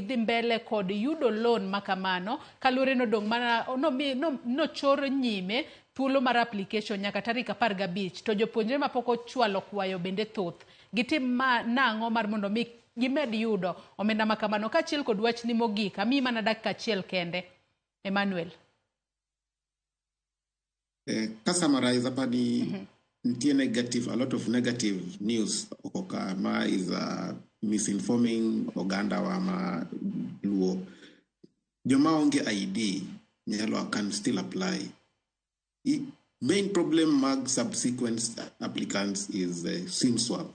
dhi mbele kod yudo loan ma kamano kaluwore ni odong' mana nomi- no- nochor nyime thuolo mar application nyaka tarik apar gabich to jopuonjre ma pok ochwalo kwayo bende thoth gitim ma nang'o mar mondo mi gimed yudo omenda ma kamano kaachiel kod wachni mogik amiyi mana dakika achiel kende emmanuel Eh, ka summarize hapa ni mm -hmm. nitie negative a lot of negative news okoka ma is uh, misinforming oganda wa ma luo joma onge id nyalo can still apply I, main problem mag subsequent applicants is uh, sim swap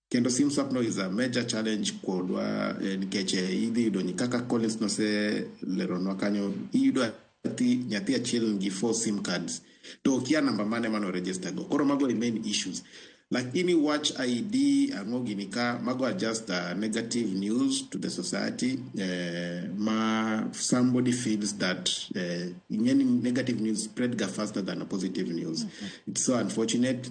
kendo sim swap no is a major challenge kodwa eh, nikech eh, idhi yudo ni kaka Collins noseleronwa kanyo iyudo nyathi nyathi achiel nigi four sim cards to okia namba mane mano register go koro mago e main issues lakini watch id ang'o gini ka mago are just uh, negative news to the society eh, ma somebody feels that eh, ing'eni negative news spread ga faster than a positive news it's so unfortunate